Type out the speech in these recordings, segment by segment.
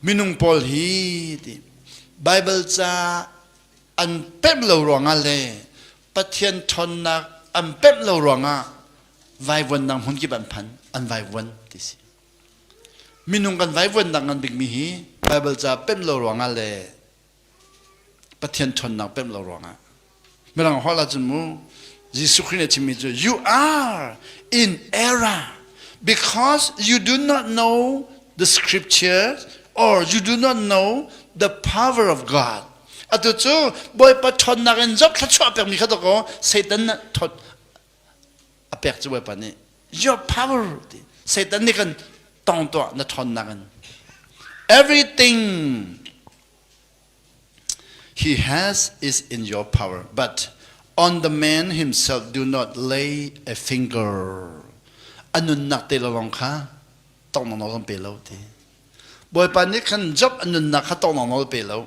Minung pawl hi Baibal ca an pemh lo ruangah le Pathian ṭhawnnak an pemh lo ruangah vaivuannak hmun kip an phan an vaivuan ti si minung kan vaivuannak ngan bikmi hi Baibal ca pemh lo ruangah le Pathian ṭhawnnak pemh lo ruangah. Mirang holh ahcun mu, Jesuh Khrih nih a chimmi cu, You are in error because you do not know the scriptures or you do not know the power of God. Atu cu Bawipa ṭhawnnak in zoh thla chuah piakmi kha dakaw Satan nih a pek cu bawipa nih your power ti satan nih kan tong tuah na ṭhawnnak in everything he has is in your power but on the man himself do not lay a finger a nunnak te lawng kha tong nawl kan pe lo ti bawipa nih khan job a nunnak kha tong nawl pe lo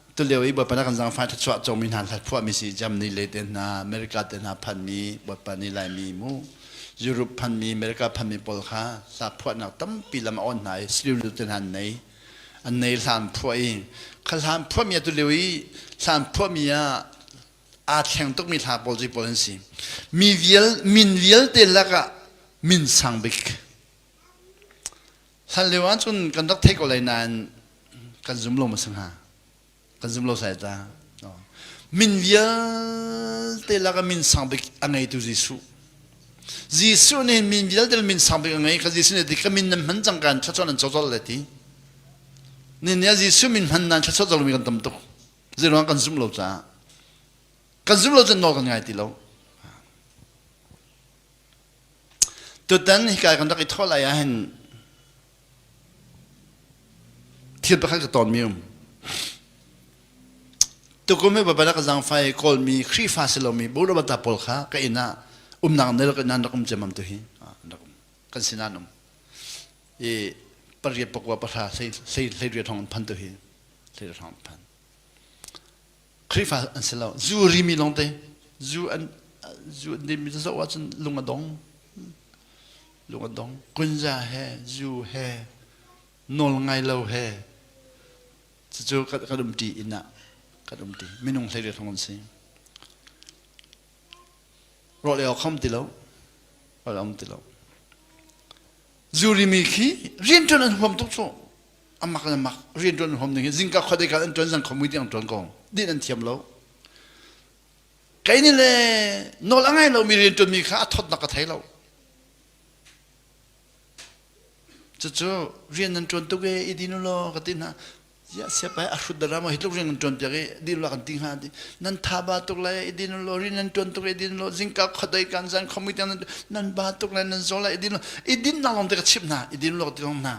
tulio i bawipa na kan zangfah thluachuah cawmi hna kha phuahmi si Germany le te hna America te hna phanmi bawipa ni laimi mu Europe phanmi America phanmi pawl kha hla phuahnak tampi lam a on hna i sliru te hna an nei an nei hlan phuah i kha hlan phuahmi a tulio i hlan phuahmi ah aa thleng tukmi hla pawl cu pawl an si mi vial min vialte lakah min sang bik Hlan lio ah cun kan rak theih ko lai nain kan zum lo ma si hnga kan zum lo sai ta min vialte laka min sang bik a ngeitu Jesuh Jesuh nih min vialte min sang bik a ngei ka Jesuh nih ti ka min nan hman cang kan thlachuan an chawchol le ti ninia Jesuh min hman nan thlachuan mi kan tam tuk zeruang kan zum lo caah kan zum lo cun nawl kan ngai ti lo Tutan hika kan rak i thawh lai ahhin thil pakhat ka tawnmi um. Tukum hi babadak zangfai kawlmi Khrihfa si lomi burawata pawl kha ka inn ah umnak nel ka nan rak um ciamam tu hi kan sin an um i pariat pakua pahra sei sei ria thong an phan tu hi sei ria thong an phan Khrihfa an si lo. Zu rimi lawngte zu an zu an dimi zoh ahcun lung a dong. Lung a dong. Kunza he, zu he, nawl ngai lo he. Cucu kan, kan um ṭi inn ah. Kan um ṭi. Minung hleiriat hong an si. Rawlei awk um ti lo. Rawlei um ti lo. Zu rimi khi rianṭuan an huam tuk cu. amak le mak rian tuan hom ding hi zingka khuat dei kan tuan zang khomu tiang tuan kong din an thiam lo kei ni le nol angai lo mi rian tuan mi kha a thot nak ka thei lo cucu rian nan tuan tuk e i dinu lo ka tin ha ya siapa a hrut dara ma hitluk rian nan tuan tiak e di la kan ting ha di nan tha ba tuk la i dinu lo rian nan tuan tuk e dinu lo zingka khot dai kan zang khomi tiang nan ba tuk le nan zo la i dinu i din na long te ka chip na i dinu lo ti long na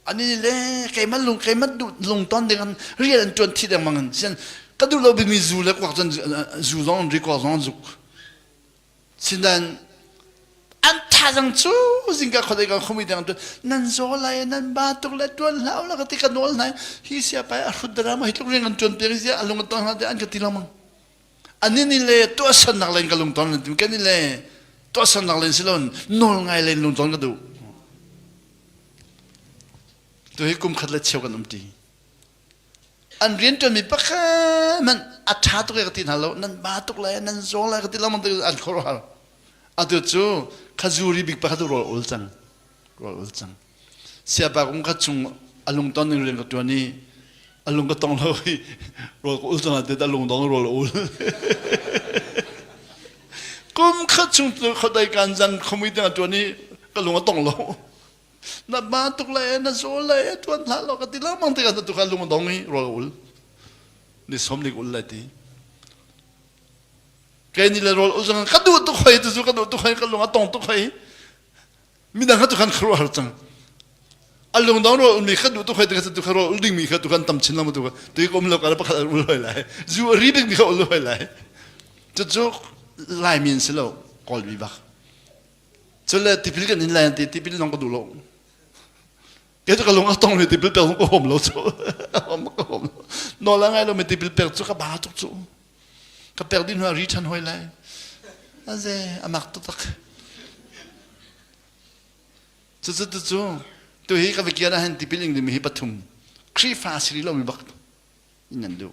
Ani le keimah lung keimah lungton ding an rian an ṭuan thi dengmang in sian ka duh lo bimi zu le kuak cun zu zong an rikor zong an zuk. Sinan an thazang cu zingka khuadei kan khumi deng tu nan zaw lai nan ba tuk le tuan hlau la ka ti ka nawl nai hi sia pai a hrut dara ma hi tluk ring an tuan te ri sia a lung ton hla te an ka ti lamang. ani ni le tuahsannak len ka lungton len tu kan ni le tuahsannak len si lon nawl ngai len lungton ka du tu hi kum khat le cheu kan um ti an rian ṭuanmi pakhat man a ṭha tuk ka ti hna lo nan ba tuk le nan zawng le ka ti lama tu an khor hal atu cu khazuri bik pakhat ul ul cang ul ul cang siapa kong kha chung a lungton ning rian ka ṭuan i a lung ka tong lo i rawl ka ul cang ah a lung dong rawl a ul kum khat chung tu khodai kan zang khomi tengah ṭuan i ka lung a tong lo na ma tuk le na zo le ṭuan hna lo ka ti lang mang te ka tu ka lung a dong i rawl ka ul ni som lik ul le ti kei ni le rawl ul zang ka duh tuk hoi tu zu ka duh tuk hoi ka lung a tong tuk hoi midang kha tu khan kharuah har cang a lung dong ro mi khat duh tu khoi te khat tu kha ro ul ding mi kha tu khan tam chin lam tu kha tu kom lo ka pakhat ul hoi lai zu ri bing mi kha ul hoi lai chu chu lai min si lo kol bi bak chu le tipil kan in lai ti tipil nong ka du lo Kaya ka lung a tong ri ti bil pek ka hom lo cu. Ka hom lo. No la ngai lo mi ti bil pek cu ka ba tuk cu. Ka pek din hua ri than hoi lai. Aze amak tu tak. Cu cu tu cu tu hi ka vekian a han ti piling dimi hi pathum Khrihfa a si rih lo mi bak in nan duh.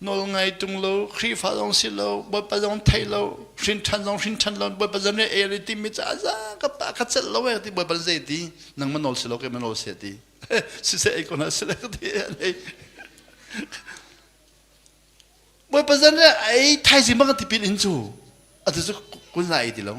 Nawl ngai tung lo, Khrihfa zong si lo, Bawipa zong theih lo, hrinṭhan zong hrinṭhan lo, Bawipa zong nih e ti mi caah za ka pa ka celh lo e ti Bawipa zei ti nang ma nawl si lo, keima nawl si ti siseh ei ko hna si lo ti Bawipa zan nih ai thaizing bang tipil in cu atu cu kun la ei ti lo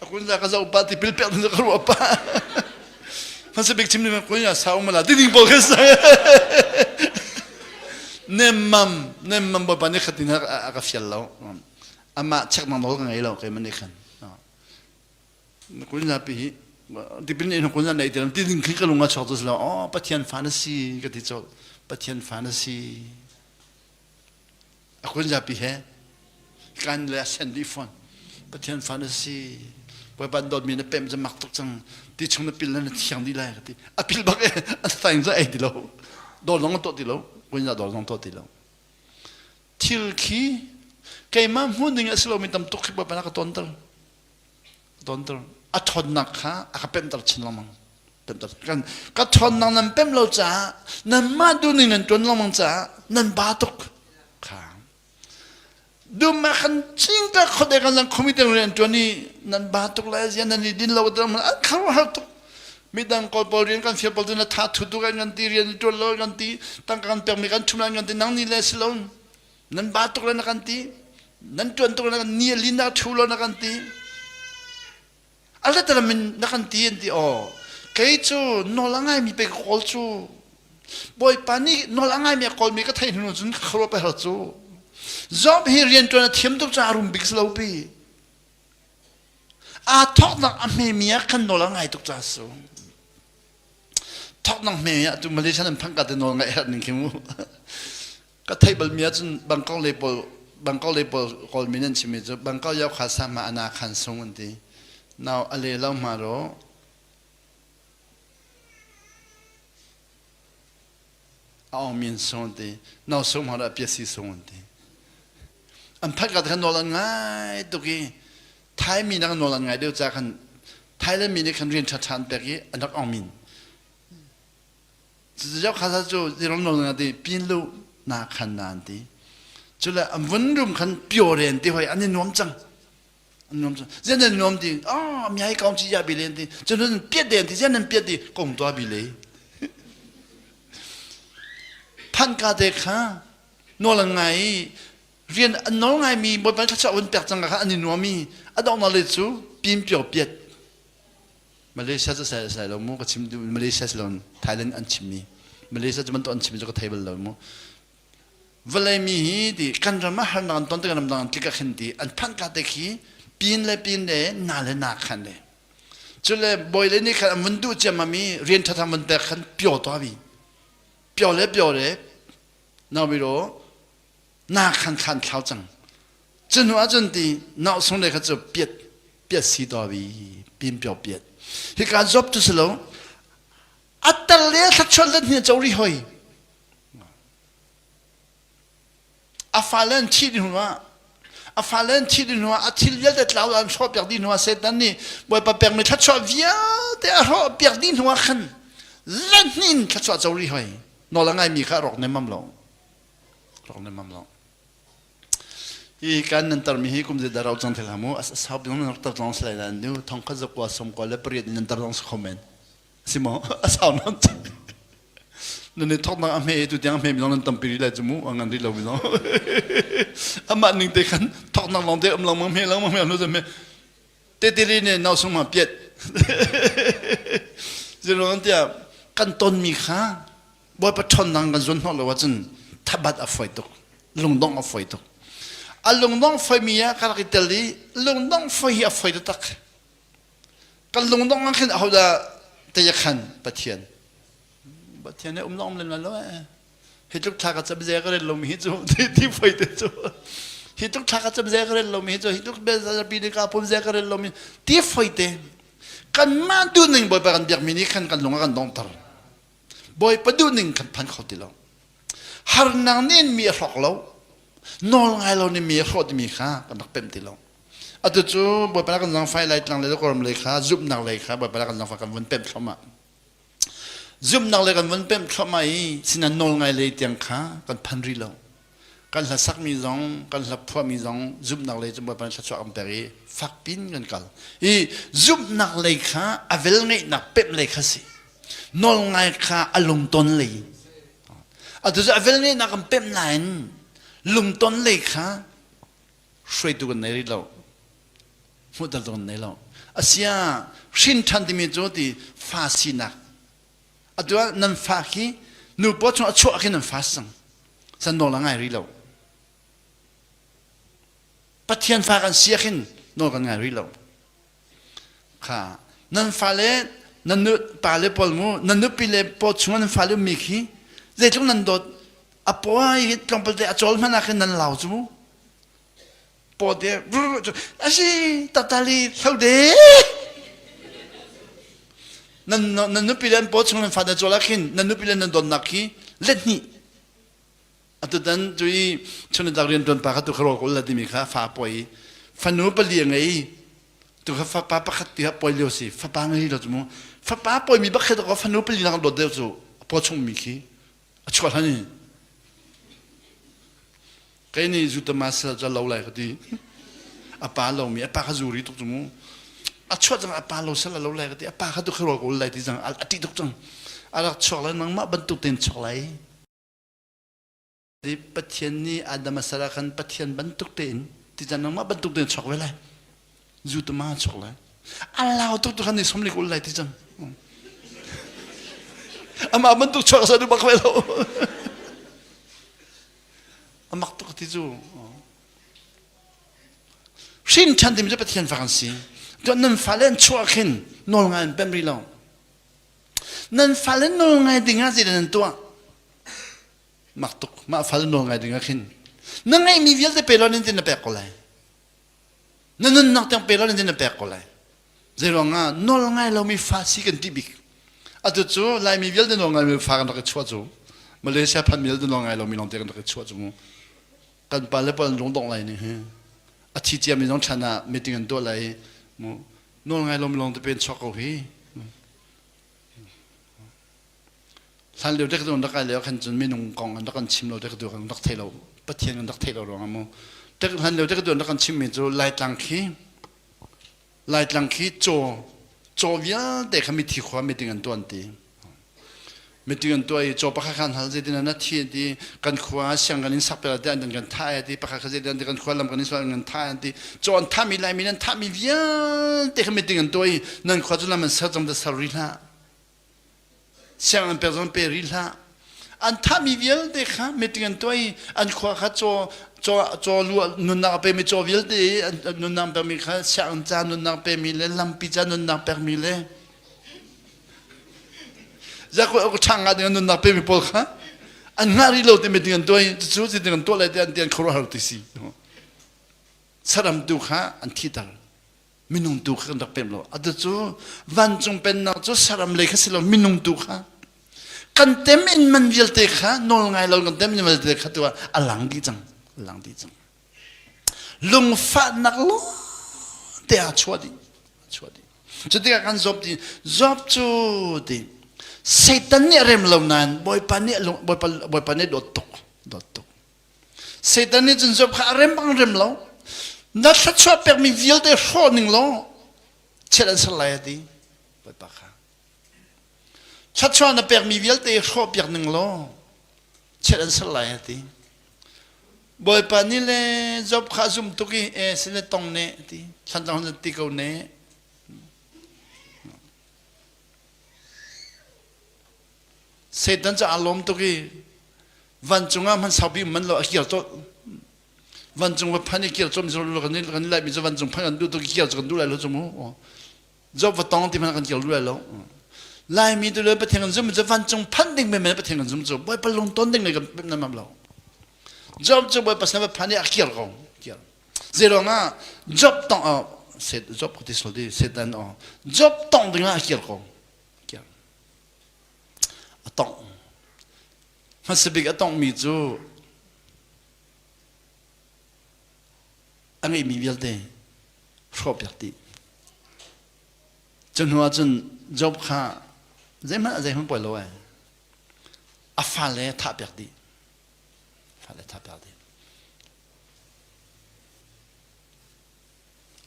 A kun za ka zoh pa tipil pek na ka ruah pa. Hmasa bik chimni ma konya sa um la ding bo ka sa. Nemmam nemmam ba pani khatin ha ka fial lo. Ama check mang lo ka ngai lo kai mani khan. Na kunya pi hi dipin in kunya nei tilam ti ding khi ka lunga chok to sla o pathian fa na si ka ti chok pathian fa na si A kun zapi he kan le a send dih fawn. Pathian fa na si. Bawipa dawtmi na pem mak tuk cang. Ti chung na pil na thiang dih lai ka ti. A pil bak e, a thaing za ei ti lo. Dor zong a tuah ti lo. Kun za dor zong tuah ti lo. Thil khi keimah hmuh ding a si lomi tam tuk khi Bawipa na ka tonter. donter a ṭhawnnak kha a ka pemhter chin lengmang pemhter kan ka ṭhawnnak nan pemh lo caah nanmah duhning an ṭuan lengmang caah nan ba tuk kha dumma kan cingka khawdek an lang khomi teng rian ṭuan i nan ba tuk lai zian nan i din lo ter an kharhar tuk midang kawl pawl rian kan fir pawl tu na tha thu tu kan kan ti rian i ṭuan lo kan ti tangka kan pekmi kan ṭhumna kan ti nang ni le si lo nan ba tuk le na kan ti nan tuan tuk le na kan ni lin na thu lo na kan ti ala tala min na kan ti an ti o kei cu nol angai mi pe kol cu bawipa nih nol angai mi kol mi ka thei hnu cun ka kharo pe har cu zom hi rian tuan a thiam tuk ca rum bik lo pi a thok nak a hme mi kan nol angai tuk ca su thok nang hme mi tu malaysia nan phang ka te nol ngai her ning khi mu ka theih balmi ahcun bangkok le pawl bangkok le pawl kawlmi nan chimmi cu bangkok yau kha sama ana khan sung an ti nau a le lo ma ro a ong min sung ti nau sung ma ro a piasi sung an ti an phat ka khan nawl an ngai tuk i thai mi nang nawl an ngai deuh ca khan thai le mi nih khan rian ṭha ṭhan pek i anak ong min Cucu khasa cu iram nawl nga ti pin lu na khan na an ti. Cule a vun rum khan piore ti hoi an i nuam cang. An nuam cang. Zian an nuam ti. Ah, mi hai kaung ci ya bi len ti. Cun piat den ti. Zian an piat ti. Kong tua bi le. Thanh ka te kha nawl ngai i rian an nawl ngai mi bot ban kha cha un pek cang ka kha an i nuam i a dong na le cu pin pio piat Malaysia cu sai sai lo mu ka chim Malaysia si lo Thailand an chim mi Malaysia cu man to an chim cu ka thei bal lo mu vale mi hi di kan ram har nan ton te ram nan tlik khin di an phan ka te khi pin le pin le na le na khan le chule boy le ni khan mun du chema mi rian tha tham mun pek khan pyo to bi pyo le pyo le na bi ro na khan thlan thlau cang cu hnu ahcun ti nausung le kha cu piat piat si to vi pim pio piat hika job tu si lo atar le thlachuan let hni chori hoi afalan thi di hnuah afalan thi di hnuah athil vialte tlau an hro piak di hnuah setan nih bawipa pek mi thlachuah vialte a hro piak di hnuah khan let hnin thlachuah chori hoi nola ngai mi kha rok nem mam lo rawk nemmam lo i kan nan tarmi hi kum zeidah ro cang thil ha mu sau bik nan rak tar tlawng si lai lan nu thong khat zakwa somkwa le pariat nan tar tlawng si kho men si mo a sau nam nan ni thok nak a hme tu tiang hme mi nan tam piri lai chu mu a ngan ri lo mi lo ama ning te khan thok nak long te am long mang hme long mang hme lo zame te te ri ne nau sung ma piet zero an tia kan ton mi kha Bawipa ṭhawnnak kan zuan hnawh lo ahcun thabat a foi tuk, lungdong a foi tuk. A lungdong foimi ah ka rak i tel i lungdong foi hi a foi taktak. Kan lungdong ah khin ahodah teiya khan Pathian Pathian ei um lom len lo eh hi tluk thla ka cham ze ka ren lomi hi cu ti foi te cu hi tluk thla ka cham ze ka ren lomi hi cu hi tluk bel zapi ni ka pom ze ka ren lomi ti foi te kan ma du ning boipa kan biakmi ni khan kan lung a kan dong tar Bawipa duh ning kan phan kho ti lo. Harnak nih mi a hrawk lo. Nawl ngai lo nih mi a hrawh timi kha kan rak pemh ti lo. Atu cu Bawipa na kan zangfai lai tlang le kawram lei kha zumhnak lei kha Bawipa na kan zangfai kan vun pemh thluahmah. Zumhnak lei kan vun pemh thluahmah i sinan nawl ngai lei tiang kha kan phan rih lo. kan hlasakmi zong kan hlaphuami zong zumhnak lei cu bawipa thluachuah kan pek i fakpin kan kal i zumhnak lei kha a velngeihnak pemh lei kha si nawlngai kha a lungton lei atucu a velngeihnak kan pemh nain lungton lei kha hruaitu kan nei rih lo hmuhter tu kan nei lo asia hrin ṭhan timi cu ti fa sinak atu ah nan fa khi nupaw chung a chuah khi nan fa si cang san nawl a ngai rih lo pathian fa kan si khin nawl kan ngai rih lo kha nan fa le nan nu pa le paul mu nan nupi le paw chung nan fa le mi khi zeitluk nan dawt a pawai tlawmpal te a chol hmana khin nan lau cu mu pawde a si tatali hlaude nan nan nupi le an paw chung nan fada chuala khin nan nupi le nan donnak hi let ni atutan cui chun tak rian tuan pa kha tu kha rol kul la timi kha fa poi fanu pali ngei tu kha fa pa pakhat ti ha poi leo si fa pa ngei lo mu fa pa poi mi bakhet ko fanu pali nak dot deu chu paw chung mi khi a chuah hlan i kei nih zu tama sal cu a lo lai ka ti a pa lomi a pa kha zu ri tuk cu mu a chuah cang a pa lo sal a lo lai ka ti a pa kha tu kha rual ko lai ti cang a ṭih tuk cang a rak chuak lai nangmah bantuk tein chuak lai ti pathian nih adam a sal ah khan pathian bantuk tein ti cang nangmah bantuk tein chuak ve lai zu tama chok lai a lau tuk tu khan ni somlik ul lai ti cang ama bantuk chuak sa du bak ve lo amak tuk ti cu hrin chan tim cu pathian fa kan si to nan falen chuak hin nol ngai an pem ri lo nan falen nol ngai dingah zida nan tuah mak tuk ma fal nol ngai dingah khin na ngeih mi vialte pe lo nin tin na pek ko lai Na nunnak tiang pek law nan pek ko lai. Zeiruangah nawl ngai lomi fa si kan ti bik. Atu cu Laimi vialte nawl ngai mi fa kan rak i chuah cu. Malaysia phan mi vialte nawl ngai lomi lawngte kan rak i chuah cu. Kan pa le pawl an rung dongh lai nih hi. A thi ciam mi zong thlan ah meeting an tuah lai i nawl ngai lomi lawngte pe an chuak ko hi. hlan lio dek dun rak ai leo khan cun minung kong an rak an chim lo dek du kan rak thei lo pathian kan rak thei lo ruang mu dek hlan lio dek dun rak an chim mi cu laitlang khi laitlang khi chaw chaw vialte kha mithi khua meeting an tuan ti meeting an tuai chaw pakhat khan hal zetin an thi ti kan khua siang kan in sakpela te an kan tha ti pakhat kha zetin kan khua lam kan in sual kan tha ti chaw an tha mi lai mi nan tha mi vialte kha meeting an tuai nan khua cu lam an ser cham da ser ri hlah sianginn pek zong pe rih hlah an thahmi vialte kha meeting an tuah i an khua kha caw caw caw lu nunnak pemi caw vialte an nunnak pemi kha sianginn ca nunnak pemi le lampi ca nunnak pekmi le zakho chang nga ding nunnak pemi pawl kha an ngah rih lo ti meeting an tuah i cucu si ding an tuah lai ti an ti an khuaruahhar ti si saram tu kha an thiter minung tu kha kan rak pem lo atu cu vancung pennak cu saram lei kha si lo minung tu kha kan tem in man vialte kha nawl ngai lo kan tem in man vialte kha tu ah a lang dih cang a lang dih cang lungfahnak lo te a chuah dih a chuah dih cutikah kan zop dih zop cu dih satan nih a rem lo nain bawipa nih bawipa bawipa nih dawt tuk dawt tuk Satan nih cun Job kha a rem bang rem lo na thluachuah pekmi vialte hrawh ning law chiat an ser lai a ti bawipa kha thluachuah na pekmi vialte hrawh piak ning law chiat an ser lai a ti bawipa ni le Job kha a zumtuk i e sine tong ne a ti thlan cang hun ti ko ne Satan caah lawm tuk i vancung ah hman saupi man lo a kir cawt vancung va phan i kir cawm kan kan laimi cu vancung phan kan duh tuk i kir cu kan duh lai lo cum mu job va tong ti hmanh kan kir duh lai lo laimi tu le pathian kan zum cu vancung phanh ding men pathian kan zum cu bawipa lung ton ding le kan pem nam lo job cu bawipa sana va phan i a kir ko kir zeirong ah job tong job ko ti sol di setan o job tong ding ah a kir ko a tongh hmasabik a tonghmi cu a ngeihmi vialte hrawhpiak dih cu hnuah cun job kha zeihmanh a zeihmanh poi lo ai a fale thahpiak dih fale thahpiak dih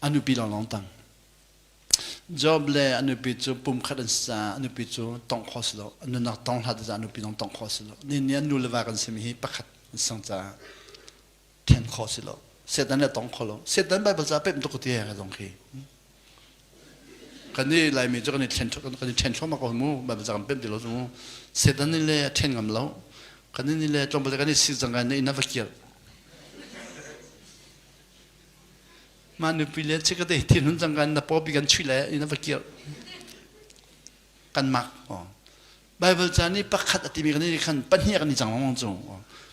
a nupi lawnglawng tang Job le a nupi cu pumkhat an si caah a nupi cu tongh kho si lo. A nunnak tong hlat caah a nupi zong tongh kho si lo. Nihin ni ah nu le va kan simi hi pakhat an si caah then kho si lo. Setan le tong kho lo. Setan Baibal caah pemh tuk ti ka zong khi. Kan i Laimi cu kan i then kan i then thluahmah ko mu. Baibal ca kan pemh ti lo cu. Setan nih le a then ngam lo. Kan nih le tlawmpal kan i si cang ka na inn a va kir. Mah nupi le cik te thilhun cangka in na popi kan chuih lai in a va kir kan mak Bible ca nih pakhat a timi kan nih khan pahnih kan i cang lawng cu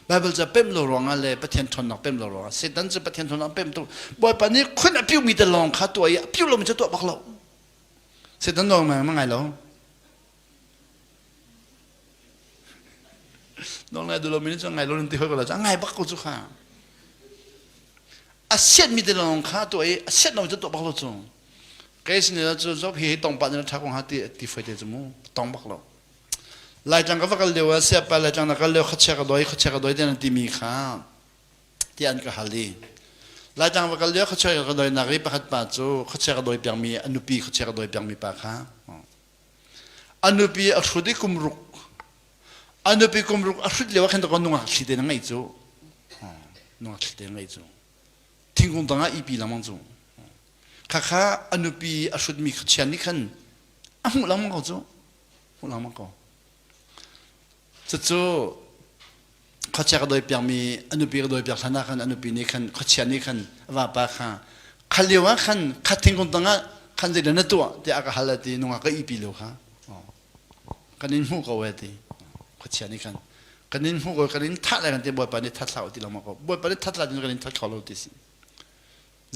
Bible ca pemh lo ruangah le Pathian ṭhawnnak pemh lo ruangah Satan cu Pathian ṭhawnnak pemh tu Bawipa nih khun a piu mi te lawng kha tuah i a piu lomi cu tuah bak lo Satan lawng ma ngai lo Nawlngai duh lomi nih cun ngai lo nan ti hoi ko la ngai bak ko cu kha a siat mi te lawng kha tuah i a siat lo cu tuah bak lo cu kei sin cu zop hi tong pa ni tha ko ha ti ti fai te cu mu tong bak lo laitlang ka va kal leo a sia pa laitlang na kal leo khachia ka doi khachia ka doi te nan ti mi kha ti an ka hal di laitlang va kal leo khachia ka doi nak i pakhat pa cu khachia ka doi piang mi a nupi khachia ka doi piang mi pa kha A nupi a hrut i kum ruk. A nupi kum ruk a hrut lio ah khan nungak thli te na ngei cu. Nungak thli te na ngei cu. Thingkung tangah ipi lengmang cu. Khakha a nupi a hrutmi kha chian nih khan a hmuh lengmang ko cu. Hmuh lengmang ko. cucu khuachia ka dawi piakmi a nupi ka dawi piak hlan ah khan a nupi nih khan khuachia nih khan vapa kha khan lio ah khan khat thingkung tangah khan zei na tuah tiah a ka hal ti nungak ka ihpi lo kha kan in hmuh ko e ti khuachia nih khan kan in hmuh ko kan in thah lai kan ti bawipa nih that hlah u ti lengmang ko bawipa nih that hlah tin kan in that kho lo ti si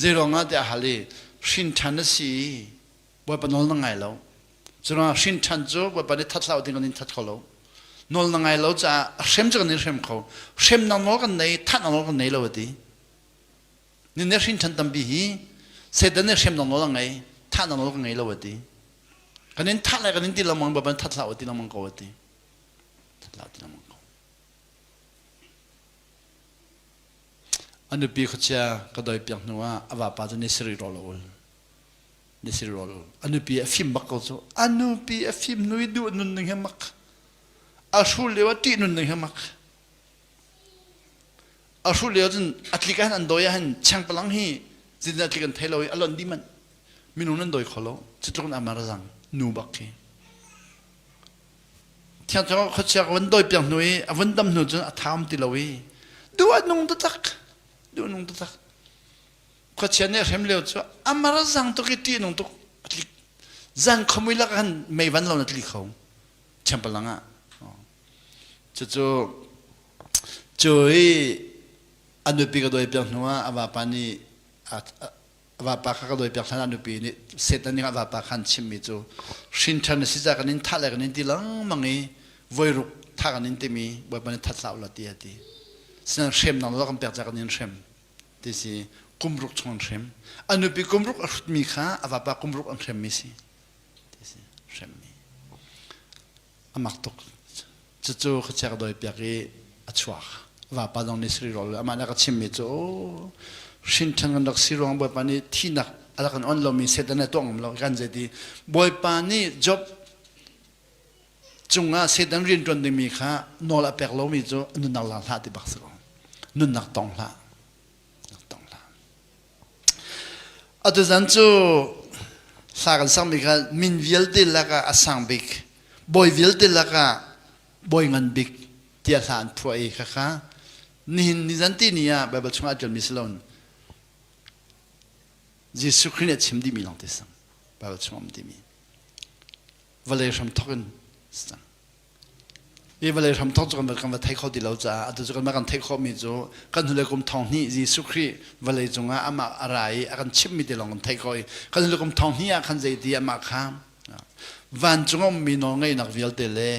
zeiruangah tiah a hal i hrinṭhan na si i Bawipa nawl na ngai lo. Curuangah hrinṭhan cu Bawipa nih that hlah u ti kan in that kho lo. Nawl na ngai lo caah a hrem cu kan in hrem kho. Hremnak nawl kan nei, thatnak nawl kan nei lo a ti. Nin nih hrinṭhan tampi hi Satan nih hremnak nawl a ngei, thatnak nawl kan ngei lo a ti. Kan in that lai kan in ti lengmang Bawipa nih that hlah u ti lengmang ko a ti. That hlah u ti lengmang ko. A nupi khuachia ka dawi piak hnuah a vapa cu ni sarih rawl a ul. na si rawl a nupi a fim bak ko cu a nupi a fim nui duh nun ning he mak a hru leo a tih nun ning he mak a hru leo cun a tlik ah an dawi ah hin cheng palang hi zin a tlik an thei lo i a lonh di manh minung nan dawi kho lo cutluk in amar zang nu bak khi thiang chang khuachia ka van doi piang hnu i a van dam hnu cun a tham ti lo i duh nung ta tak duh nung ta tak khuachia nih hrem leo cu amar zang tuk i ṭih nung tuk a tlik zan khamui lak khan meivan lo na tli kho temple lang ah cucu cu i a nupi ka dawi piak hnu ah a vapa nih a vapa kha ka dawi piak hlan ah nupi nih setan ning a vapa khan chimmi cu hrinṭhan na si ca kan in thah le kan in ti lengmang i voiruk thah kan in timi bawipa nih that hlah ulah ti a ti sinah hrem nang law kan pek ca kan in hrem Tisi kumruk chungin hrem. A nupi kumruk a hrutmi kha a vapa kumruk an hremmi si. Tisi hremmi. A mak tuk. Cucu ka chek doi piak i a chuak. Vapa dong nih sri rawl. Amah nih a ka chimmi cu, oh, hrinṭhan kan rak si ruang Bawipa nih thihnak a rak kan on lomi Satan a tuah ngam lo. Kan zeiti, Bawipa nih Job cungah Satan rian ṭuan dingmi kha nawl a pek lomi cu nunnak la hlah ti bak si ko nunnak tong hlah tong hlah atuchan cu hla kan sakmi kha min vialte lakah a sang bik bawi vialte lakah bawi ngan bik tiah hla an phuah i khakha nihin nizan ti ni ah Baibal chungah a ṭialmi si loin Jesuh Khrih nih a chim dihmi lawng te sang Baibal chungah um dihmi vawlei hram thawk in mi vawlei hram thawk cu kan va thei kho ti lo caah atu cu kan kan theih khawhmi cu kan hnulei kum thong hnih Jesuh Khrih vawlei cungah amah a ra i a kan chimmi te lawng kan theih khawh i kan hnulei kum thong hnih ah khan zeiti amah kha vancung a ummi nawlngeihnak vialte le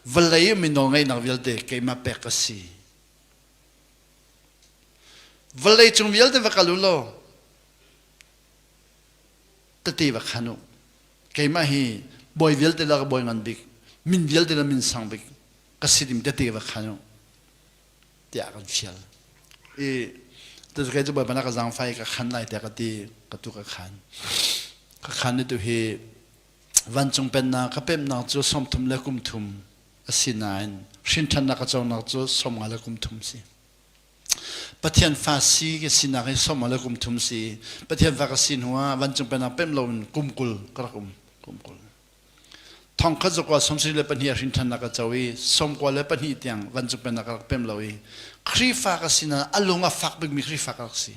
vawlei ummi nawlngeihnak vialte keimah pek ka si vawlei cung vialte va kal u law tete va khan u keimah hi bawi vialte la ka bawi ngan bik min vialte la min sang bik ka si dim tete va khan u tiah kan fial i tu kai cu bawi bana ka zangfai ka khan lai tiah ka ti ka tu ka khan ka khan ni tu hi vancung pennak ka pemnak cu sawmthum le kumthum a si nain hrinthannak ka conak cu sawmnga le kumthum si Pathian fa si ka sinak hi sawm le kum thum si Pathian fa ka si hnu ah vancung pennak pemh lo in kum kul ka rak um kum kul thong khat zakua sawmsarih le pahnih a hrin ṭhan ka co i sawmkua le pahnih tiang vancung pennak ka rak pemh lo i Khrihfa ka sinah a lung a fak bikmi Khrihfa ka rak si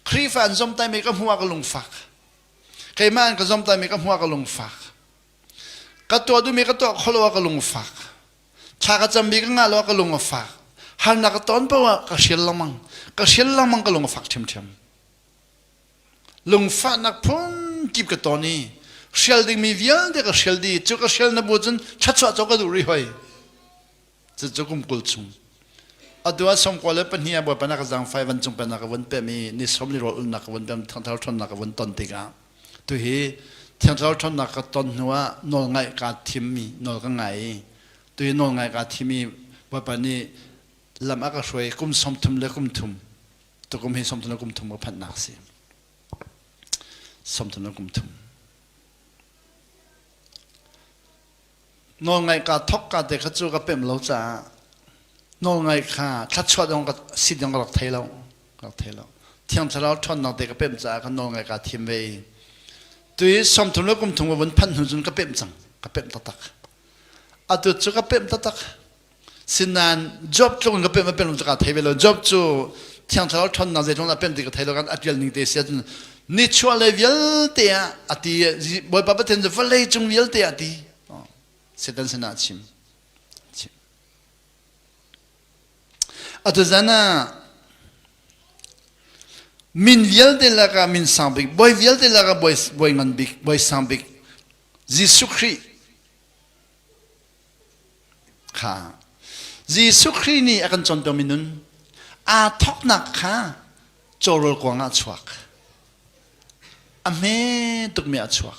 Khrihfa an zom taimi ka hmuh ah ka lungfak keimah an ka zom taimi ka hmuh ah ka lungfak ka tuah duhmi ka tuah kholo ah ka lungfak thla ka cam bik ngah lo ka lung a fak halnak ka ton pa ka shel lengmang ka shel lengmang ka lung a fak ṭhiamṭhiam lungfahnak phun kip ka ton i shel dingmi vialte ka shel di cu ka shel na bu cun chatsuah co ka duh ri hoi cu cu kum kul chung atu ah som le pahnih a bawi panak ka zang fai van cung penak ka von pem i ni som li rawl ulnak ka von pem thangthar ṭhawnnak ka von ton tikah Tuhi thiangthlarau ṭhawnnak ka ton hnuah nawlngaih kaa thimmi nawl ka ngai i tuhi nawlngaih kaa thim i Bawipa nih lam a ka hruai kum sawmthum le kum thum tukum hi sawmthum le kum thum ka phanhnak a si. Sawmthum le kum thum. nawlngaih kaa thawk kaa te kha cu ka pemh lo caah nawlngaih kha thluachuah dong ka sin dong ka rak thei lo ka rak thei lo thiang thlarau ṭhawnnak te ka pemh caah ka nawlngaih kaa thim ve i tui sawmthum le kumthum ka vun phanh hnu cun ka pemh cang ka pemh taktak atu cu ka pemh taktak Sinan job tlung ka pen ka pen ka thei ve lo job cu thiang thlarau thon na zeitlung na pen ti ka thei lo kan atial ning te sia cun ni chuah le vialte ah ati bawipa pathian cu vawlei cung vialte ah ti setan sinah a chim atuzan ah min vialte laka min sang bik boi vialte laka boi boi ngan bik boi sang bik Jesuh Christ kha Jesuh Khrih nih a kan contomi nun aa thawknak kha cawrawl kuang ah chuak a hme tukmi ah chuak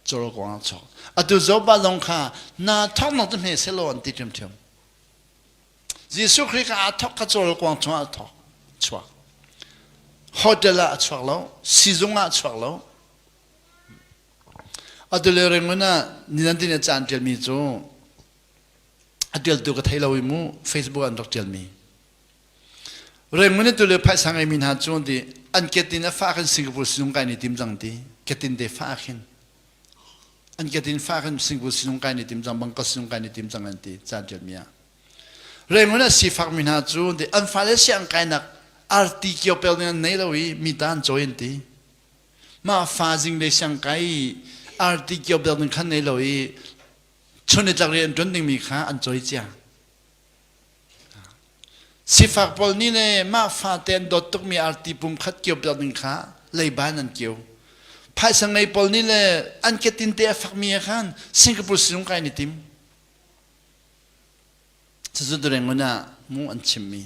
cawrawl kuang ah chuak atu Zoba lawng kha naa thawknak cu hme selaw an ti ṭhiamṭhiam Jesuh Khrih kha aa thawk kha cawrawl kuang chungah a thawk chuak hotel ah a chuak lo sizung ah a chuak lo Atu le rengun ah ninan dine caan ṭialmi cu a ṭialtu ka thei lo i mu Facebook an rak ṭialmi. Rengun i tule phaisa ngeimi hna cu di an ketin a fah khin Singapore sinung kai ni tim cang ti ketin te fah khin an ketin fah khin Singapore sinung kai ni tim cang Bangkok sinung kai ni tim cang an ti caan ṭialmi ah rengun ah sifakmi hna cu di an fale siang kainak arti kiopel ning an nei lo i mi ta an cawi an ti mah fa zing le siang kai arti kio bel ning khan nei lo i chun itlak rian ṭun dingmi kha an coi cia sifak pawl nih le mah fate an dawt tukmi arti pum khat kio bel ning kha leiba in an kio phaisa ngei pawl nih le an ketin te a fakmi ah khan singapore sinung kai ni tim cucu dureng ngun ah mu an chimmi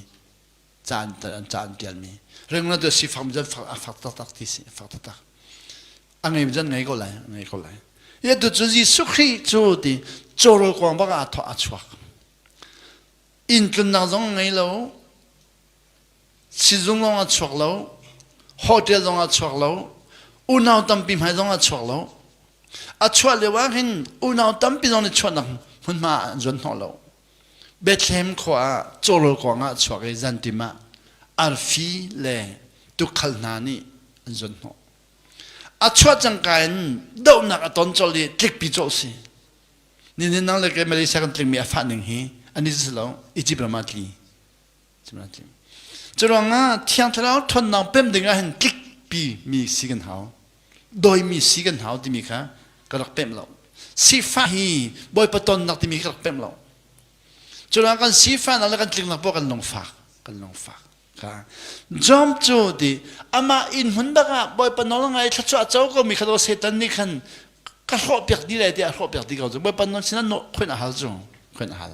caan an caan tialmi rengna tu si fam zan fak a fak taktak ti si fak taktak a ngei zan ngei ko lai ngei ko lai ye tu chu Jesuh Christ chu ti chorol kwang baka a thwa a chuak in tlunnak zong ngei lo sizung lawng a chuak lo hotel zong a chuak lo unau tampi hmai zong a chuak lo a chuah lio ah hin unau tampi zong nih chuahnak hmunhma an zuan hnawh lo Bethlehem khua ah cawrawl kuangah chuak i zantim ah arfi le tukhal hna nih an zon hnawh. A chuah cangka in dohnak a ton colh i tlikpi cawh si. Nihin nang le kei Malaysia kan tlingmi a fah ning hi ani si lo Egypt ram ah tli. Curuangah Thiang Thlarau thonnak pem dingah hin tlikpi mi si kan hau. Dawimi si kan hau timi kha ka rak pem lo. Sifah hi Bawipa tonnak timi ka rak pem lo. Curuang kan sifah nak le kan tliknak poah kan lungfak. Kan lungfak. Ka. Jom cu di amah in hun bakah Bawipa nawl ngai thluachuah co ko mi khalo setan nih khan ka hlawh piak di le tiah hlawh piak di ko cu Bawipa nawl sinah no khoin a hal cu khoin a hal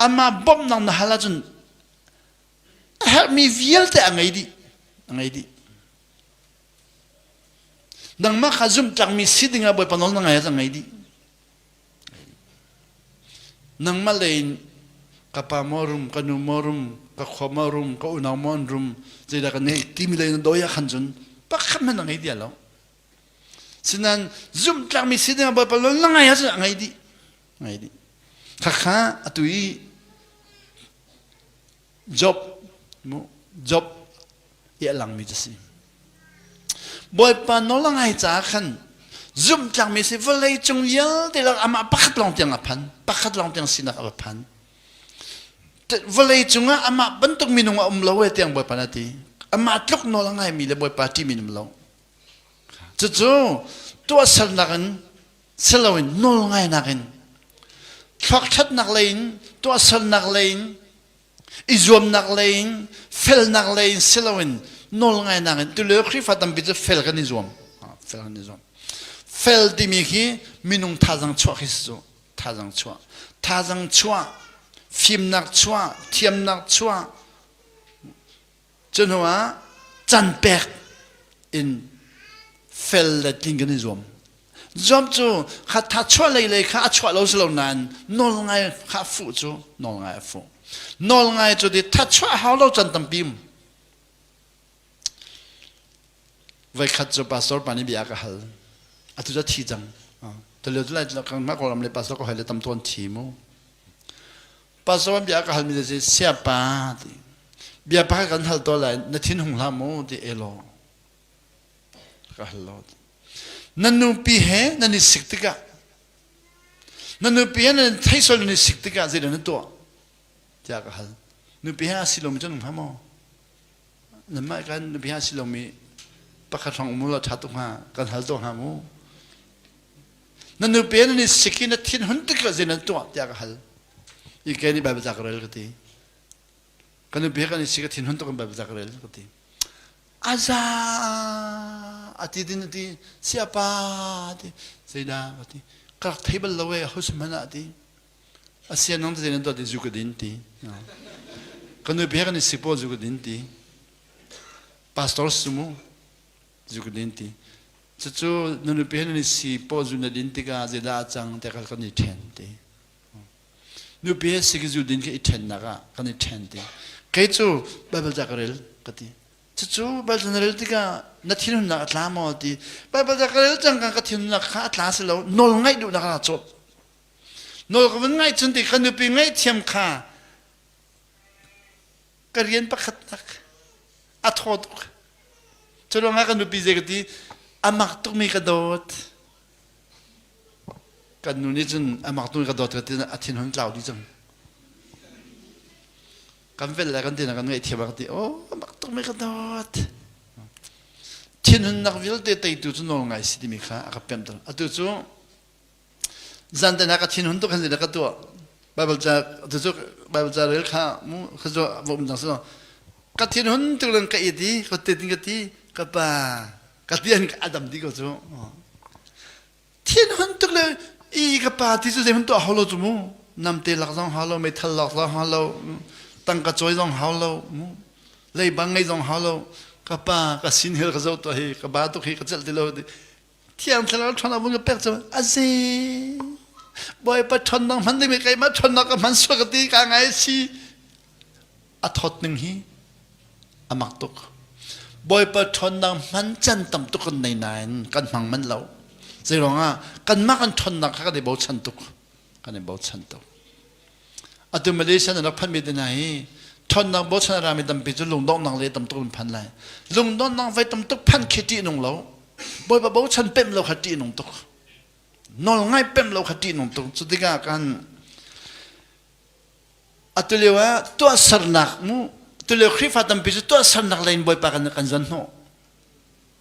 Anmah bawmhnak na hal ahcun a herhmi vialte a ngei dih. A ngei dih. Nangmah kha zumhtlangmi si dingah Bawipa nawl na ngai ahcun ngei dih. Nangmah lei in ka pa maw rum, ka nu maw rum, ka khua maw rum, ka unau maw an rum, zeidah ka neih timi lei in dawi ah khan cun pakhat hmanh a ngei ti lo. sinan zumtlangmi sidang bawipa lo na ngai asih ngai dih ngai dih khakha atu i job mu job iahlang mi si bawipa nola ngai ca khan zumtlangmi si vawlei cung vialte lak amah pakhat lawng tiang a phan pakhat lawng tiang sinak a phan vawlei cungah amah bantuk minung a um lo e tiang bawipa na ti amah tluk nola ngai mi le bawipa ṭi minum lo cucu tuahsernak in si loin nawlngainak in thluakṭhatnak lei in tuahsernak lei in i zuamnak lei in felnak lei in si loin nawlngainak in tulio Khrihfa tampi cu fel kan i zuam fel kan i zuam fel timi khi minung thazang chuah khi si cu thazang chuah thazang chuah fimnak chuah thiamnak chuah cu hnu ah can pek in fel le tlin kan i zuam zuam cu hattha chuahlei lei kha a chuah lo si lo nain nawlngai kha fuh cu nawlngai a fuh nawlngai cu di that chuah hau lo can tampi um voikhat cu pastor pa nih bia ka hal atu cu thi cang tulio tu lai mah kawlam le pastor ka hoi le tam tuan thi mu Pastor an bia ka hal mi na si sia pa ti bia pa kan hal to lai na thin hung hla mu ti e law ka hal lo ti na nupi he nan i sik tikah na nupi he nan theisol nan i sik tikah zeidah na tuah tiah ka hal nupi he a si lomi cu nung hna maw nan mah kan nupi ha si lomi pakhat hrawng mu la ṭha tu hnga kan hal to hnga mu na nupe nan i sik i na thin hun tik zai nan tuah tiah ka hal i kei nih baibal ca ka rel ka ti ka nupe kan i sik a thin hun tuk in baibal ca ka rel ka ti a za a ti din a ti siapa ti zei da ka ti ka rak thei bal lo e ho se hmanh ah ti a sia nang te zei nan tuah ti zu ka din ti ka nupe kan i sik paw zu ka din ti pastor su mu zu ka din ti cucu na nupi he nan i si paw zu na din tikah zeidah a cang tiah kan i ṭhen ti nupi he si ka zu din ka i ṭhennak ah kan i ṭhen ti kei cu baibal ca ka rel ka ti cucu baibal na rel tikah na thinhunnak a tla maw ti baibal ca ka rel cang ka thinhunnak kha a tla si lo nawl ngaih duhnak ah cawp nawl ka vun ngaih cun ti ka nupi ngaihthiam kha ka rian pakhat tak a thaw tuk cu ruangah ka nupi zei ka ti amak tukmi ka dawt kan nu nih cun amak tukmi ka dawt ka ti a thin hon tlau dih cang kan vel le kan tinak kan ngaih thiam a ka ti o amak tukmi ka dawt thinhunnak vialte teitu cu nawl ngai si timi kha a ka pemh tuk atu cu zan te na ka thin hun tu kan zile ka tu bible cha tu chu bible cha rel kha mu kha zo vom jang so ka thin hun tu len ka i di ko te tin ka ti ka pa ka tian ka adam di ko chu thin hun tu le i ka pa ti chu zei hun tu holo chu mu nam te lak zong halo me thal lak zong halo tang ka choi zong halo mu lei bang ngai zong halo ka pa ka sin hel ka zo to hi ka ba tu hi ka chel ti lo Thiang thlarau ṭhan avun ka pek cu asi Bawipa ṭhonnak hman ding keimah ṭhonnak ka hman suak ka ti ka ngai si a thawt ning hi a mak tuk Bawipa ṭhonnak hman can tam tuk kan nei nain kan hmang manh lo zeiruangah kanmah kan ṭhonnak kha kan i bochan tuk kan i bochan tuk atu malaysia nan rak phanmi te hna hi ṭhawnnak bochan a rami tampi cu lungdonghnak le tamtuk in phan lai lungdonghnak vai tamtuk phan khi ṭih nung lo bawipa bochan pemh lo kha ṭih nung tuk nawlngai pemh lo kha ṭih nung tuk cu tikah kan atulio ah tuahsernak mu tulio khrihfa tampi cu tuahsernak lei in bawipa kan kan zuan hnawh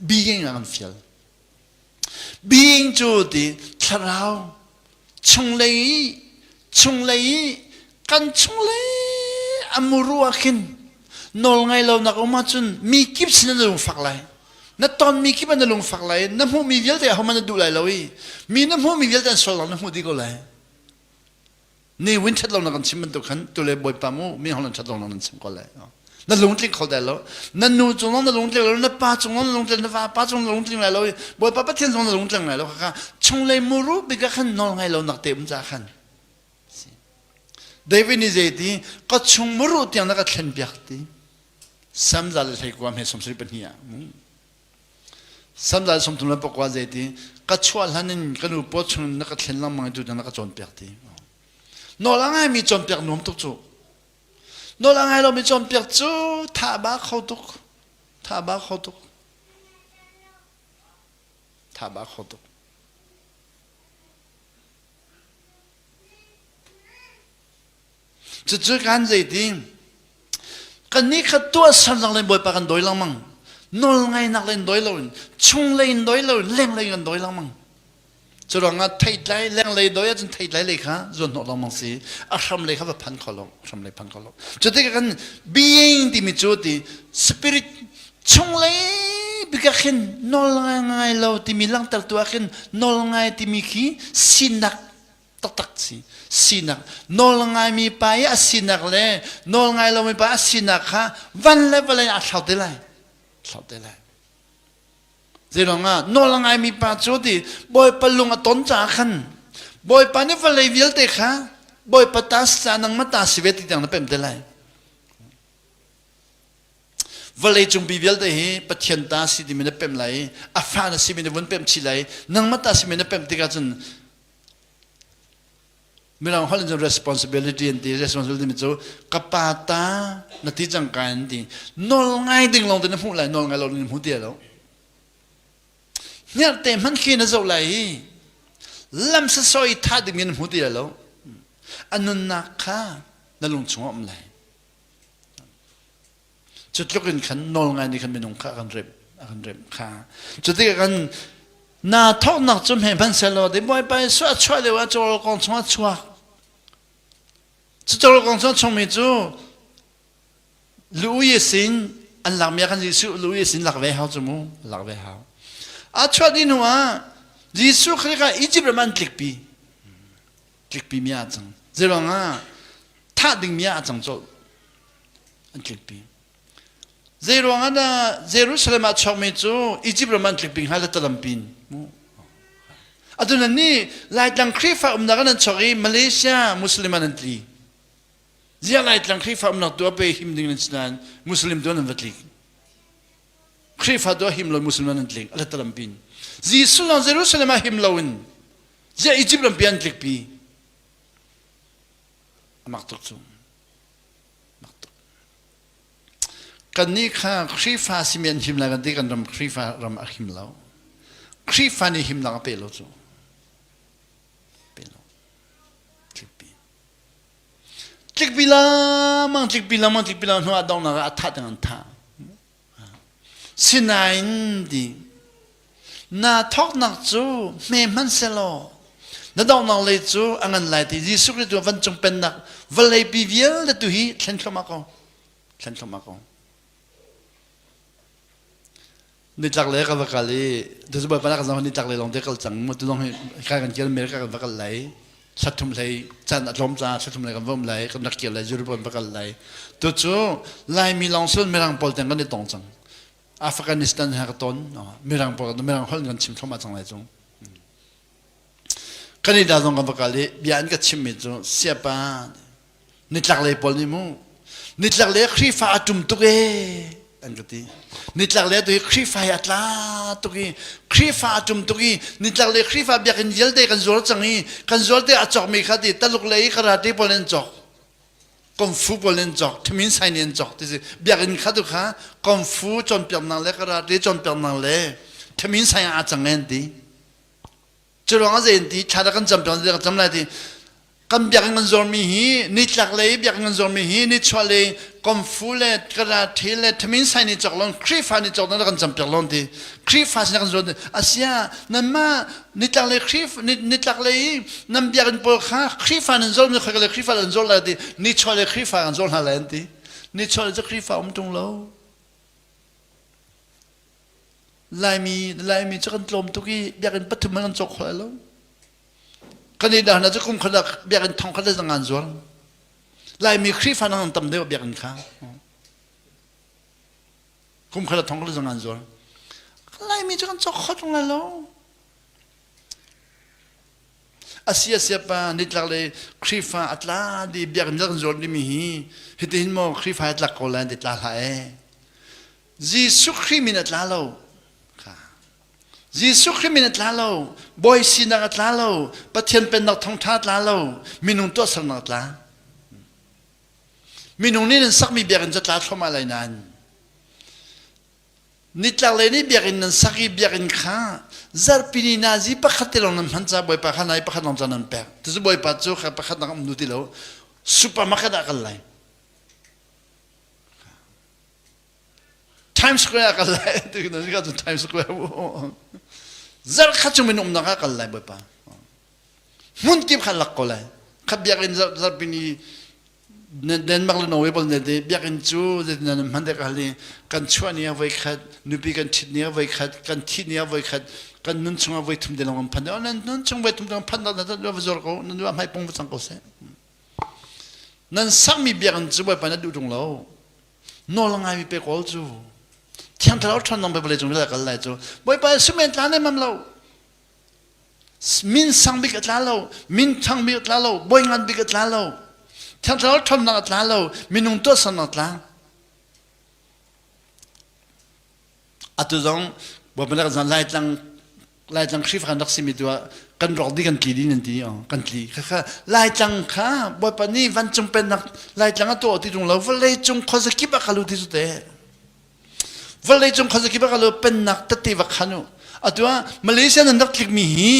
being an feel being cu di thlarau chunglei chunglei kan chunglei amuru akhin nol ngai lo nak oma cun mi kip sin na lung fak lai na ton mi kip an na lung fak lai na hmuh mi vialte hom an na duh lai lo i mi na hmuh mi vialte an sol lang na hmuh dih ko lai ni win chat lo nak an chim bantuk khan tu le bawipa mu mi hon chat lo nak nan chim ko lai na lungtling kho dai lo na nu cung na lungtling lo na pa cung na lungtling na pa cung na lungtling lai lo bawipa pathian cung na lungtling lai lo kha chung lei muru bika khan nol ngai lo nak te um cha khan david ni zei ti ka chung muru tiang na ka thlen piak ti sam za le hlei kwa me som sri pahnih ah Sandal sumtum le pakua zei ti ka chuah hlan in ka nu paw chung na ka thlen lengmang tu na ka cawnpiak ti nawl a ngai mi cawnpiak nuam tuk cu nawl a ngai lo mi cawnpiak cu tha ba kho tuk tha ba kho tuk tha ba kho tuk Cucu kan zeitin kan nih kha tuah sernak len bawipa kan dawi lengmang nawlngainak len doi loin chunglei in doi lo lenglei kan doi lengmang cu ruangah theitlai lenglei doi ahcun theitlai lei kha zuan hnawh lengmang si a hram lei kha va phan kho lo hram lei phan kho lo cu tikah kan being timi cu ti spirit chunglei bikak hin nawlngai ngai lo timi langhtertu ah khin nawlngai timi khi sinak taktak si sinak nawl ngaimi pa i a sinak le nawl ngai lomi pa a sinak kha van le vale in a thlau te lai thlau te lai zeiruangah nawl ngaimi pa cu ti bawipa lung a ton caah khan bawipa nih vale vialte kha bawipa ta si ca nang ma ta si ve ti tiang na pem te lai vale cungbi vialte hi pathian ta si timi na pem lai i a fa na si mi na vun pem chih lai nangma ta si mi na pem tikah cun Mirang holh in cun responsibility an ti. Responsibility mi cu ka pa ta na ti cangka an ti. Nawl ngai ding lawng te na hmuh lai nawl ngai lo na hmu ti lo. Hniar te hman khi na zoh lai i lamsa soi tha ding in na hmu ti lo. A nunnak kha na lung chungah um lai. Cutluk in khan nawlngai nih khan minung kha a kan remh a kan remh kha. Cutikah kan na thawhnak cu hme hman selaw dei bawipa Jesuh a chuah lio ah cawro kong chung a chuak. Cu cawro kong chung a chungmi cu lu ye sin an lakmi ah khan Jesuh lu ye sin lak ve hau cu mu lak ve hau. A chuah ni hnu ah Jesuh Khrih kha Egypt ram an tlikpi. tlikpi mi a cang zeiruangah thah ding mi ah a cang cawlh an tlikpi zeiruangah dah Jerusalem ah chuakmi cu Egypt ram an tlikpi hnga latalampi in atu nan nih Laitlang Khrihfa umnak an chuak i Malaysia Muslim an an tli ziah Laitlang Khrihfa umnak tu a pe him ding nan si nain Muslim tu an va tlik Khrihfa tu a him lo Muslim an an tlik alatalampi in Jesuh lawng Jerusalem ah him lo in Ziah Egypt lampi an tlikpi? A mak tuk cu. Mak tuk. Kannih kha Khrihfa simi an him lai kan ti kan ram Khrihfa ram a him lo. Khrihfa nih himnak a pe lo cu. Pe lo. Tlikpi. Tlikpi lengmang, tlikpi lengmang, tlikpi lengmang hnuah donghnak ah a thah ding an thah. Sinain ding na thawknak cu hme hman selaw na donghnak lei cu a ngan lai ti Jesuh Khrist tu vancung pennak vallei pi vialte tu hi thlen thluamah ko thlen thluamah ko nitlak le ka va kal i Jesuh Bawipa na kan zong nitlak le lawng te kal cang mu tu lawng hi kai kan kial mer ka kan va kal lai thlatthum hlei caan a tlawm ca thlatthum hlei kan vom lai kan rak kir lai Jerusalem va kal lai tu cu Laimi lawng sin Mirang pawl tiang kan i tong cang Afghanistan ha ka ton Mirang pawl kan Mirang holh kan chim thoma cang lai cung kan i da zong kan va kal i bia in ka chimmi cu siapa Nitlaklei pawl nih mu nitlaklei Khrihfa a ṭum tuk ee an ka ti nitlaklei tu hi Khrihfa hi a tla tuk i Khrihfa a ṭum tuk i nitlaklei Khrihfa biakinn vialte kan zual cang i kan zualte a cawkmi kha ti taluk lei i karate pawl in cawk kungfu pawl in cawk thimin sain in cawk ti si biakinn kha tu kha kungfu cawnpiaknak le karate cawnpiaknak le thimin sain a cang an ti Curuang a zein ti thla kan cam ṭang kan cam lai ti kan biakinn kan zormi hi nitlak lei biakinn kan zormi hi nichuah lei komfu le kara ṭhe le thamin sai ni cok lon khrifa ni cok nan kan cam piak lon ti khrifa sin kan zuan asia nan ma nitlak lei khrif nitlak lei nan biakinn pawl kha khrifa nan zor mi khoi le khrifa nan zor lai ti nichuah le khrifa kan zor hna lai an ti nichuah le cu khrifa um ṭung lo Laimi na Laimi cu kan tlawm tuk i biakinn pathum hmanh an cawk kho lai lo. Kan i dah hna cu kum khat ah biakinn thong khat le zang an zuar. Laimi Khrihfa nang tam deuh biakinn kha. Kum khat ah thong khat le zang an zuar. Laimi cu kan cawk kho ṭung lai lo. Asi asi pa nitlak le Khrihfa a tla di biakinn kan zuar dimi hi hitihin maw Khrihfa hi tlak ko lai ti tla hlah ee. Jesuh Khrih min a tla lo. Jesuh Khrih min a tla lo. Bawi sinak a tla lo. Pathian pennak thawngṭha a tla lo. Minung tuahsernak a tla. Minung nih nan sakmi biakinn cu a tla thluahmah lai nain nitlaklei nih biakinn nan sak i biakinn kha zarhpini nazi pakhat te lawng nan hman caah Bawipa kha nai pakhat lawng cun nan pek. Cucu Bawipa cu kha pakhat nak um duh ti lo. Supermarket ah kal lai. Times Square kal lai ti na si cun Times Square zarkhat cu min umnak ah kal lai bawipa hmun kip khan lak ko lai khat biakinn zarpin i Denmark le Norway pol ne de biakinn cu zetin nan hman dek hal i kan chuah ni a voi khat nupi kan thit ni a voi khat kan thi ni a voi khat kan nun chung a voi thum de lawng phan de nan nun chung voi thum de phan da nan va zor ko nan va hmai pong va cang ko seh nan sakmi biakinn cu bawipa na duh ṭung lo nawl ngaimi pe kawl cu thiang thlarau ṭhanong pe vale cung ril a kal lai cu bawipa simen tla nem lo min sang bik a tla lo min thang bik a tla lo boi ngan bik a tla lo thiang thlarau ṭhamnak a tla lo minung tuahsannak a tla atu zong babandak zan laitlang laitlang khrifa kan rak simi tu ah kan rok di kan tli din an ti oh kan tli kha kha laitlang kha bawipa nih vancung pennak laitlang a tuah ti tung lo vawlei cung khozakip a kalu ti te vawlei cung khozakip a kalu pennak tete va khanu atu ah malaysia nan rak tlikmi hi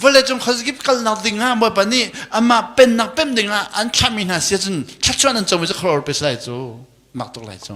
vawlei cung khozakip kalnak ding ah bawipa nih amah pennak pem ding ah an thlahmi hna sia cun thlachuan an comi cu khror pe sai cu mak tuk lai cu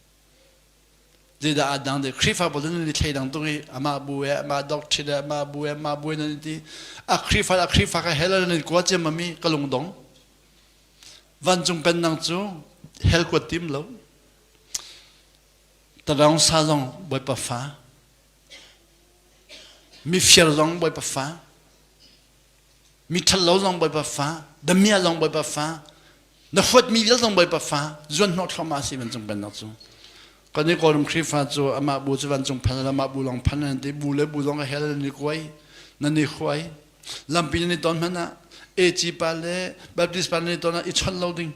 Zeidah ah dang de Khrihfabu nan ni thlei dang tung i amah bu e amah doctrine e amah bu e amah bu e nan ti a Khrihfa a Khrihfa ka hell nan kuat ciam mi ka lungdong vancung kan nang cu hell kuat tim lo tadaung sa zong bawipa fa mifiar zong bawipa fa mi ṭhalo zong Bawipa fa, damia zong Bawipa fa, na huatmi vial zong Bawipa fa, zuanhnawh thluahmah si vancung pennak cu. Kan i kawlum Khrihfa cu amah bu cu vancung phan le amah bu lawng phan an ti. Bu le bu lawng a hel nan i kuai, nan i huai. Lampi nan i ton hmanh ah eci pa le Baptist pa nan i ton ah i chawnh lo ding.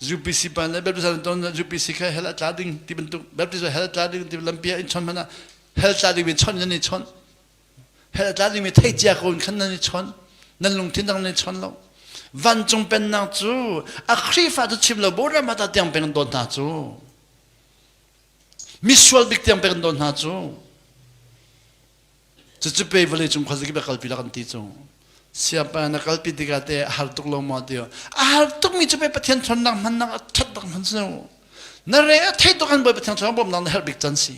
UPC pa nih Baptist hal ton UPC kha hell a tla ding ti bantuk Baptist hell tla ding ti lampi ah in chon hmanh ah hell tla ding mi chon nan i chon hell tla ding mi thei cia ko in khan nan i chon nan lungthin dang nan i chon lo vancung pennak cu a khrifa cu chim lo bora mata tiang peng dawt hna cu misual bik tiang peng dawt hna cu Cucu pe vale cung khuazik bia kalpi la kan ti cung. Siapa na kalpi tikah te a har tuk lo ma ti a har tuk mi cu pe Pathian thonnak hman nak a that tak hman seu. Na re a thei tuk an boi Pathian thonnak bom nak na herh bik can si.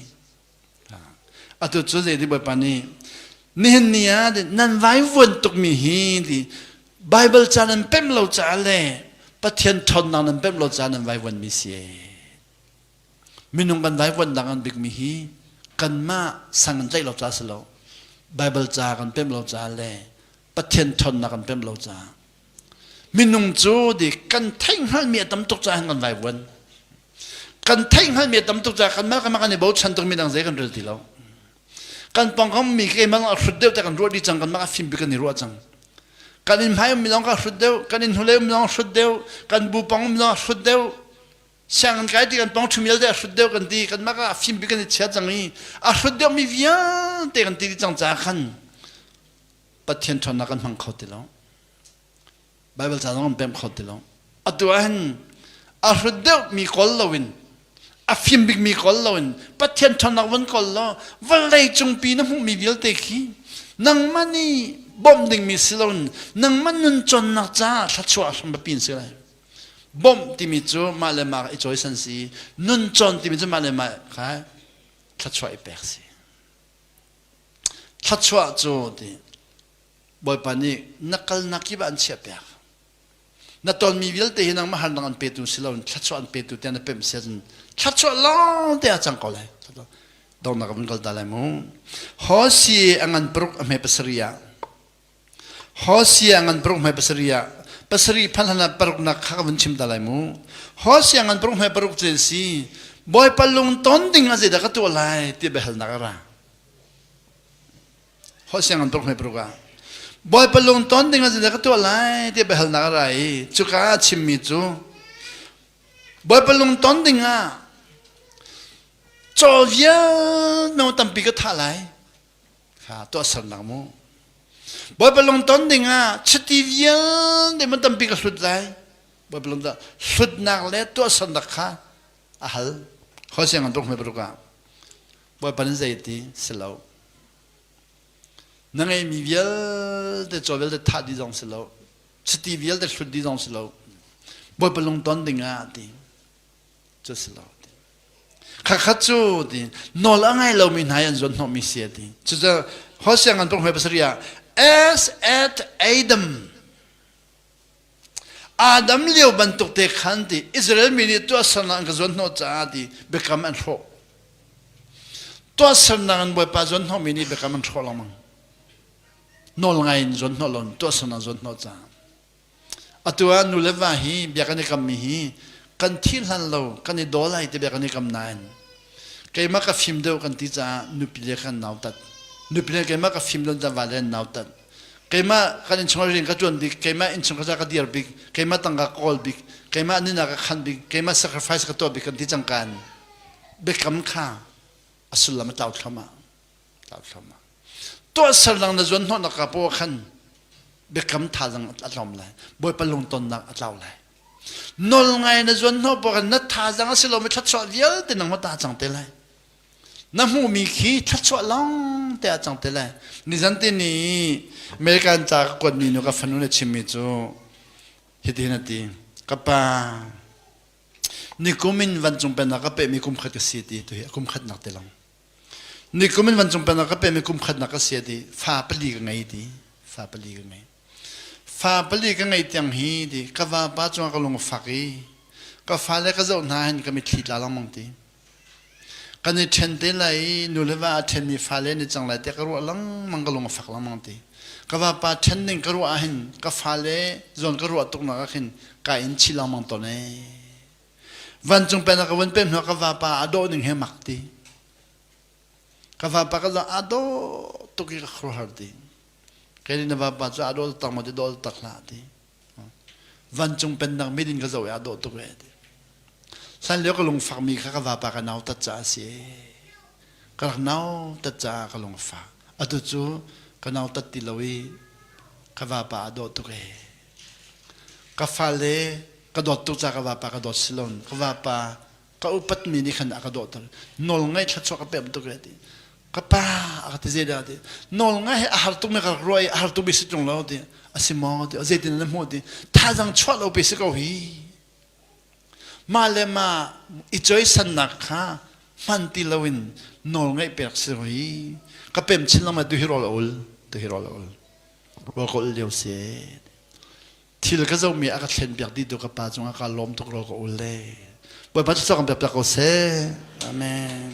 Atu cu zei di Bawipa nih nihin ni ah nan vai vuan tuk mi hi di Bible ca nan pem lo caah le Pathian thonnak nan pem lo caah nan vai vuan mi si. minung kan daivuannak an bikmi hi kanmah sang in tlaih lo ca si lo Baibal ca kan pem lo ca le Pathian ṭhawnnak kan pem lo ca minung cu di kan theih hngalmi a tam tuk ca kan vaivuan kan theih hngalmi a tam tuk ca kanmah kanmah kan i bochan tukmi dang zei kan rel ti lo kan pongkammi keimah a hrut deuh te kan ruah dih cang kanmah a fim pi kan i ruah cang kan in hmai ummi lawng ka hrut deuh kan in hnulei ummi lawng hrut deuh kan bu pong ummi lawng hrut deuh sianginn kai ti kan pong ṭhumial te a hrut deuh kan ti kan mah ah fim bi kan i chia cang i a hrut deuh mi vialte kan ti dih cang caah khan Pathian ṭhawnnak kan hmang kho ti lo Baibal ca zong kan pem kho ti lo atu ah hin a hrut deuh mi kol loin a fim bik mi kol loin Pathian ṭhawnnak vun kol law vawlei cungpi na hmuhmi vialte khi nangmah nih bawmh dingmi si loin nangmah nun cawnnak caah thluachuah hram biapi in si lai Bawmh timi cu mah le mah i cawisan si. Nun cawn timi cu mah le mah kha thluachuah i pek si. Thluachuah cu ti Bawipa nih na kalnak kip ah an chiah piak. Na tonmi vialte hi nangmah harnak an petu si loin thluachuah an petu tiang na pemh si ahcun thluachuah lawng te ah cang ko lai. Dornak in kal ta lai mu. Hosi a ngan paruk a hme pasari ah Hosea ngan paruk hmai pasarih ah pasarih phan hlan ah paruknak kha ka vun chim ta lai mu. Hosea ngan paruk hmai paruk cu an si. Bawipa lung ton ding ah zeidah ka tuah lai ti biahalnak a ra. Hosea ngan paruk hmai paruk ah Bawipa lung ton ding ah zeidah ka tuah lai ti biahalnak a ra i cuka ah chimmi cu Bawipa lung ton ding ah caw vial meo tampi ka thah lai. kha tuahsernak mu bawipa lung ton ding ah chiti vialte man tampi ka hlut lai bawipa lung dah hlutnak le tuahsernak kha a hal hoi siang an tuk hme baruk ah bawipa nin zeiti si lo na ngeimi vialte caw vialte thah di zong si lo chiti vialte hlut di zong si lo bawipa lung ton ding ah ti cu si lo ding khat cu ding nawl a ngai lomi hna an zuan hnawhmi si ding cucu ho siang an pong hoi pasari ah as at adam adam lio bantuk te khan ti israel mi nih tuah sernak an ka zuan hnawh caah ti biakam an hrawh tuah sernak an bawipa zuan hnawhmi nih biakam an hrawh lengmang nawl ngai in zuan hnawh lo tuah sernak zuan hnawh caah Atu ah nu le va hi bia kan i kammi hi kan thi hlan lo kan i daw lai ti bia kan i kam nain keimah ka fim deuh kan ti caah nupi le kan nautat nupi le keimah ka fim don ta va le nautat keimah kan innchungah rian ka tuan bik keimah innchung ka ka dir bik keimah tangka ka kawl bik keimah nihnak ka khan bik keimah sacrifice ka tuah bik kan ti cangkan biakam kha a sullam a tlau thluamah tauthlam ah tuahsal dang na zuan hnawh na ka po khan biakam tha dang a tlawm lai bawipa lungtonnak a tlau lai nol ngai na zuan hnawh po khan na tha dang a si lo mi thlatchuah vialte nang ma ta cang te lai na hmu mi khi thlatchuah long te a cang te lai nizan ti ni American ca ka kuat mi nu ka fanu ne chim mi cu hi ti na ti ka pa ni kumin van cung pen ka pe mi kum khat ka si ti tu hi kum khat nak te long Nikum in vancung penah ka pemi kum khatnak ka si ti fa pali ka ngei ti fa pali ka ngei fa pali ka ngei tiang hi ti ka vapa cungah ka lungfak i ka fa le ka zoh hna hin ka mitthli tla lengmang ti kan i ṭhen te lai i nu le va a ṭhenmi fa le ni cang lai tiah ka ruah lengmang ka lungfak lengmang ti ka vapa ṭhen ning ka ruah ah hin ka fa le zawn ka ruah tuknak ah khin ka in chi lengmang tawn ee Vancung pen ka vun pem hna ka vapa a dawh ning he mak ti. Ka vapa ka za a dawh tuk i ka khuar ti. Kai nih na vapa cu a dawh tak mo ti dawh tak hlah ti. Vancung pen dang mit in ka zoh i a dawh tuk e ti. San leo ka lungfak mi kha ka vapa ka nau tat ca a si e. Ka rak nau tat caah ka lungfak. Atu cu ka nau tat ti lo i ka vapa a dawh tuk e. Ka fale ka dawt tuk caah ka vapa ka dawt si lo. Ka vapa ka upatmi nih khan a ka dawhter. Nawlngaih thluachuah ka pe bantuk a ti. Ka pa a ka ti zeidah a ti. Nawlngaih hi a har tukmi ka rak ruah i a har tukmi si ṭung lo ti. A si maw ti. Zeitin na hmuh ti. Thazaang chuah lopi si ko hi. Mah le mah i cawisannak kha hman ti loin nawlngaih pek si ko hi. Ka pem chin lo ma tu hi rawl a ul. Tu hi rawl a ul. va ka ul lio si thil ka zomi a ka thlen biak dih tu ka pa cung ah ka lawm tuk ro ka ul le bawipa cu cang biak piak ko seh amen